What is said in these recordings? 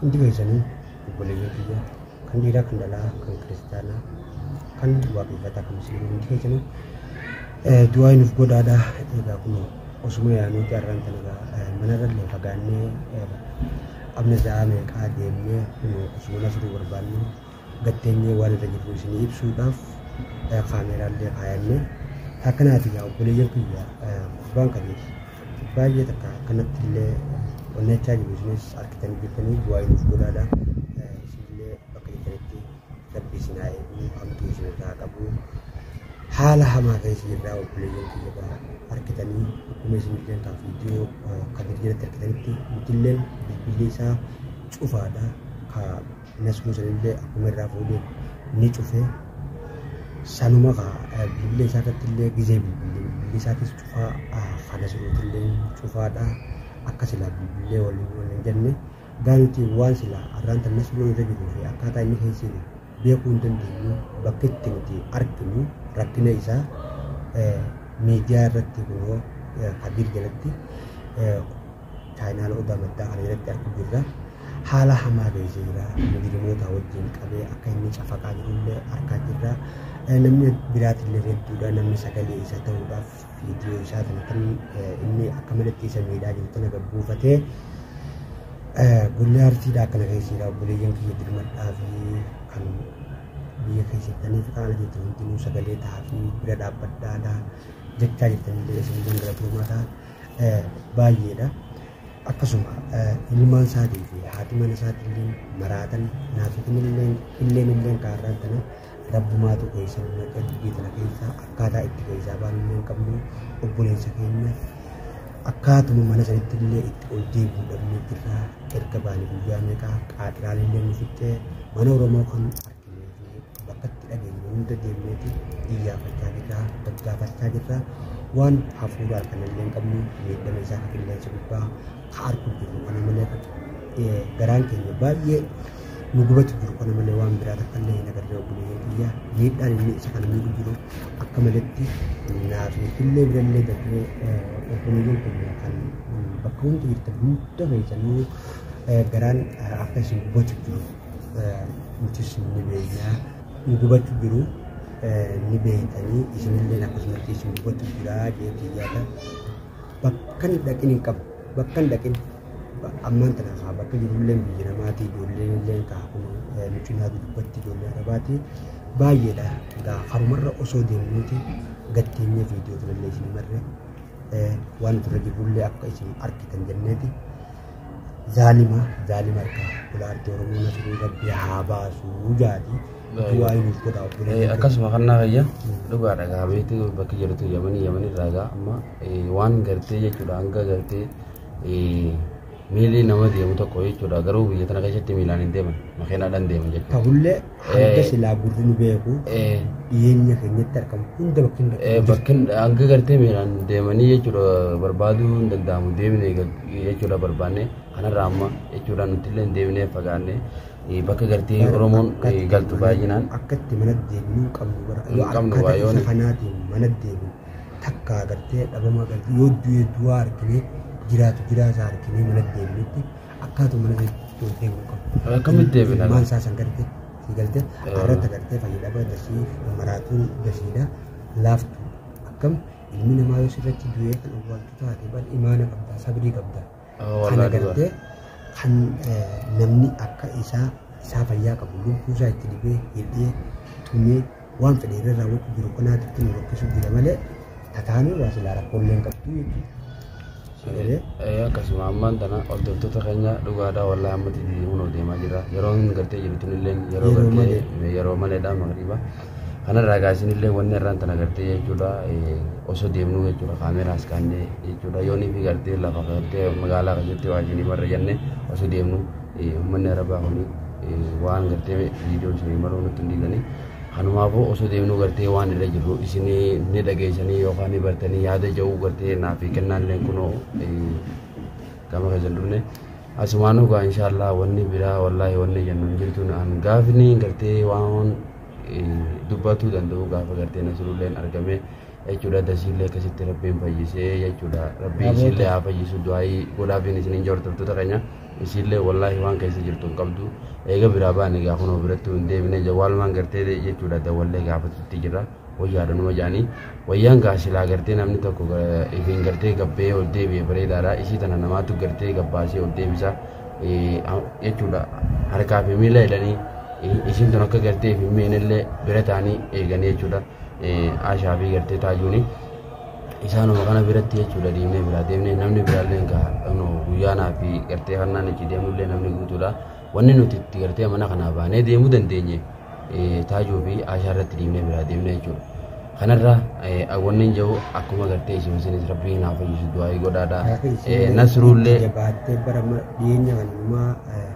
Hundi keessanii obboleeyyan kiyya kan dhiiraa kan dhalaa kan kiristaanaa kan waaqeffataa kan musliimaa hundi keessanii eh, du'aa nuuf godhaadha egaa kun osuma yaanuu carraan kan egaa eh, manarra illee fagaannee eh, amna za'aa meeqaa deemnee kun osuma nasruu barbaannee gad teenyee waan irra jirru isinii ibsuudhaaf eh, kaameeraallee kaayannee akkanaati yaa obboleeyyan kiyya eh, kubbaan kabeef baay'ee takka akkanatti illee onnechaa jiru isinis argitan jirtanii du'aa nuuf godhaadha Eh, isinillee bakka jirtanitti rabbi isin haa eegu hamtuu isin irraa qabu haala hamaa keessa jirraa obboleeyyan kiyya ba'a argitanii akkuma isin illeen kan viidiyoo eh, kan viidiyoo irratti argitanitti nutilleen bilbilli isaa cufaadha ka Inni asuma sanillee akkuma irraa fuudhee ni cufee sanuma kaa bilbila isaa irratti illee gizee bilbile bilbile isaatis cufaa kana siruuti illee cufaadha akka silaa bilbilee waliin waliin jenne gaanuti waan silaa arraan tan nasmuun irra jiruu fi akkaataa inni keessa jiru beekuu hin dandeenyu bakka itti nuti arginu rakkina isaa miidiyaa irratti kunoo kadir jalatti Chaayinaal odaa maddaa kana jalatti argu jirra. Haala hamaa geessee jira. Mujrimoota wajjin qabee akka inni cafaqaa jirullee argaa jirra. Namni biraatillee hedduudha. Namni sagalee isa ta'uudhaaf viidiyoo isaa kana kan inni akka malatti isa miidhaa jiru tana gabbuufatee guyyaa arsiidha akkana keessa jira. Obboleeyyan kiyya dirmadhaa fi kan biyya keessaniif kan ala jirtan hundinuu sagalee ta'aa fi bira dhaabbadhaadha. Jechaa jirtanillee isin gangalatuu mataa. baay'eedha. Akkasuma ilmaan isaatii fi haati mana isaatii illee maraatan naafitin illee illeen illeen kaarraan tana rabbumaatu keessa nama qalbii tana keessaa akkaataa itti keessaa baanu illee hin qabnu obboleessa keenya akkaatuma mana sanitti illee itti ol deebi'uu dhabnee jirra erga baane guyyaa meeqaa qaaxiraan illee nu fixxee mana Oromoo kan Abbatti dhageenyu hunda deemneeti iyyaafachaa jirra, daddaafachaa jirra. Waan hafuuraa kan illee hin qabnu miidhama isaa kan qilleensa gubbaa haa argu jiru kana malee garaan keenya baay'ee nu gubatu jiru kana malee waan biraa takka illee hin agarree obboleeyyan kiyya miidhaan inni isa kana miidhu jiru akka maletti naaf illee birallee darbee obboleeyyan keenya kan bakka hundi jirtan hunda keessanuu garaan akka isin gubatu jiru. nutis ni beeknaa nu gubachuu jiru ni beektanii isinillee akkasumatti isin gubachuu jiraa jeetii yaada bakka hin dhaqin hin qabu bakka hin dhaqin ammaan tana kaa bakka jirullee biyya namaatii ijoollee illee kaa kun mucinaa dubbatti ijoollee arabaatii baay'eedha gaa harumarra osoo deemnuuti gatteenya viidiyoo turellee isin marre waan turre jirullee akka isin argitan jenneeti. zaalima zaalima arkaa bulaarti oromoo nasiruu rabbi haa baasuu jaati du'aa hinuuf godhaa Eh, obboleeyyan akkasuma kan naa fayya dhugaa dhagaa beektu bakki jirtu yamanii yamanii raagaa amma eh, waan gartee jechuudha hanga gartee eh, miilli nama deemu tokko jechuudha garuu biyya tana keessatti miilaan hin deeman makiinaadhaan deeman jechuudha. tahullee hanga silaa gurri nu beeku Eh, dhiyeenya keenyatti argamu hunda bakki hin eh, bakki bakkin hanga gartee miiraan deemanii jechuudha barbaaduu hin danda'amu deemine jechuudha barbaanne kanarraa amma jechuudha nuti illee deemnee fagaanne eh, bakka gartee oromoon eh, galtu baay'inaan akkatti mana deemnu hin qabnu bara Hin yoo qabnu akkata baay'oon. isa kanaatiin mana deemnu takka agartee dhabama agartee yoo du'e du'aa argine jiraatu jiraataa argine mana deemnutti akkaatuma mana keessa yoo deemu qabu. Akkamitti deebina? Ilmaan isaa san garte si galte Eh. irratti garte fayyadama dasii maraatuun dasiidha laaftu akkam ilmi namaa yoo sirratti du'ee kan awwaaltu taate bal imaana qabda sabrii qabda. Ah, Kana walaa dhugaa. garte kan eh, namni akka isaa isaa fayyaa qabu lubbuu isaa itti dibee hidhee tumee Waan fedhe irra raawwachuu jiru kanaatti itti nu rakkisuu jira malee tataan irraa silaa rakkoollee hin qabdu jechuudha. akkasuma ammaan tana hordoftoota keenya dhugaadhaa wallaa ammatti deemuun deemaa jira yeroo hin gartee jirtu illee yeroo Yeroo gartee yeroo maleedha magriba kanarraa gaasiin illee wanni irraan tana gartee jechuudha eh, osoo deemnu jechuudha kaameraas kaannee jechuudha yoonii fi gartee lafa gartee magaalaa keessatti waajjinii marra jennee osoo deemnu Uummanni Arabaa kun waan gartee viidiyoo isinii maruu nutti hin dhiisanii kanumaafuu osoo deemnuu gartee waan irra jirru isinii ni dhageessanii yookaan ni bartanii yaada ja'uu gartee naaf kennaan illee kunoo gama keessan dhufne asumaan dhugaa inshaallah wanni biraa wallaahi wanni jennu hin jirtu naan gaafni gartee waan dubbatuu danda'u gaafa gartee nasirulleen argamee jechuudha dasiillee akkasitti rabbiin fayyisee jechuudha rabbii isiillee haa fayyisu du'aayii godhaafiin isiniin jordoftoota keenya isiillee wallaahi waan keessa jirtu hin qabdu eega biraa baane egaa kunoo biratti hin deebine jawwaalumaan gartee jechuudha dawwallee gaafatutti jira wayyaadha numa jedhanii wayyaan gaa silaa gartee namni tokko ifiin gartee gabbee ol deebi'e bareedaadha isii tana namaatu gartee gabbaasee ol deebisa jechuudha harkaa fi miila jedhanii isiin tun akka gartee fi miinillee bira ta'anii eeganii jechuudha. Aashaa fi gartee taajuuni isaanuma kana biratti jechuudha deemnee biraa deemnee namni biraallee hin gaha dhaqnu guyyaanaa fi gartee kannaan itti deemullee namni guutuudha wanni nuti itti gartee mana kanaa baanee deemuu dandeenye taajuu fi aashaa irratti deemnee biraa deemnee jechuudha. Kanarra wanni hin jiru akkuma gartee isin isinis rabbiin naaf fayyisu du'aa godhaadha. Nasruullee. Jabaattee bara dhiyeenya kanumaa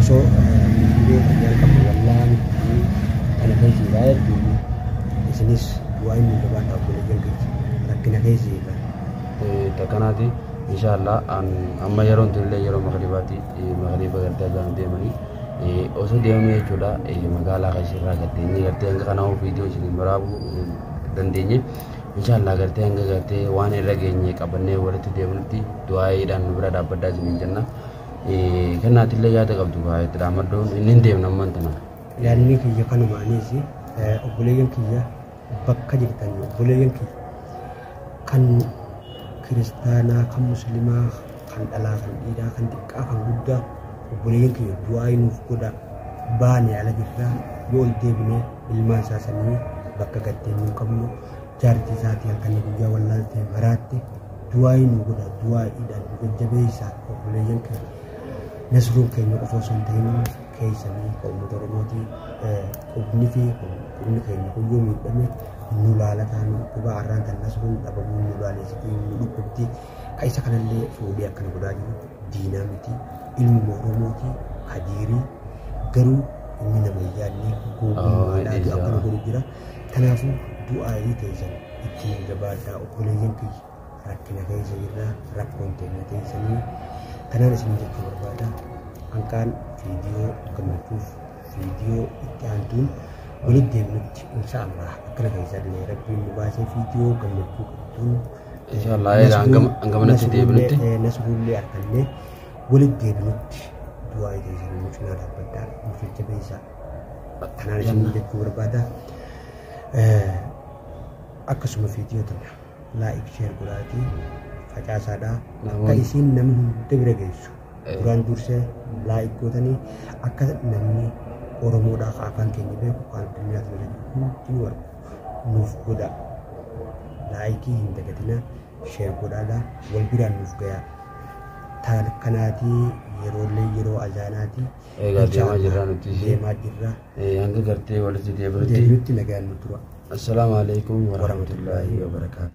osoo hundee fayyaa qabu wallaan kana keessa irraa hedduu isinis bu'aa inni gabaa dhaaf godhe jalqabsi rakkina keessa irraa. Takkanaati inshaallah amma yeroon tunillee yeroo magribaati magriba gartee azaanu deemanii osoo deemanii jechuudha magaalaa keessa irraa gartee inni gartee hanga kanaa viidiyoo isin waraabuu dandeenye inshaallah gartee hanga gartee waan irra geenye qabannee walitti deemnutti du'aayiidhaan nu bira dhaabbaddaa isiniin jenna. Kennaatti illee yaada qabdu kaa itti dhaammaddoon inni hin deemne ammaan tana. Yaadni kiyya kanuma anis obboleeyyan kiyya bakka jirtan obboleeyyan kiyya kan kiristaanaa kan muslimaa kan dhalaa kan dhiiraa kan xiqqaa kan guddaa obboleeyyan kiyya du'aa nuuf godhaa baane ala jirraa yoo ol deebine ilmaan isaa sanii bakka gaddeen hin qabnu Jaartii isaatii akka inni guyyaa wallaaltee maraatte du'aa'ii nu godha du'aa'iidhaan nu jajjabeessa obboleeyyan keenya. Nasruun keenya qofa osoo hin ta'in keessanii ka uummata Oromooti qubni fi qubni keenya guyyuu miidhame nu laalataa nu dhukkuba arraan kan nasruun dhabamuu nu laaleessitii nu dhukkubti ka isa kanallee fuudhee akkana godhaa jiru diinaa miti ilmuma Oromooti kadiirii garuu inni nama hin yaadne gowwummaadhaatu akkana godhu jira. Kanaafuu du'aayii teessan ittiin jabaadhaa obboleeyyan kiyya rakkina keessa jirraa rakkoon teenya teessanii kanaan isin jechuu barbaada hanqaan viidiyoo gammachuuf viidiyoo itti aantuun walitti deemnutti insha Allah akkana keessaa illee rabbiin nu baasee viidiyoo gammachuu qabduun Insha Allah, egaa hangam- hangamanatti deebinutti. nasruullee argannee walitti deebinutti du'aayii teessan nu cinaa dhaabbadhaa nu jajjabeessaa. Kanaan isin jechuu barbaada. Akkasuma viidiyoo tana laayik sheer godhaatii facaasaadha. Akka isiin namni hunda bira geessu. Duraan dursee laayik gootanii akka namni Oromoodhaa ka afaan keenya beeku kan addunyaa kana hundi nu argu nuuf godha. Laayikii hin dagatina sheer godhaadha wal biraan nuuf gayaa. Taan kanaatii yeroo illee yeroo azaanaatii. Egaa deemaa jirraa nuti ishee. Deemaa jirraa. Eh, Hanga gartee walitti deebinutti. Deebinutti nagaan nu tura. Assalaamu alaikum warahmatullaahi wabarakaatu.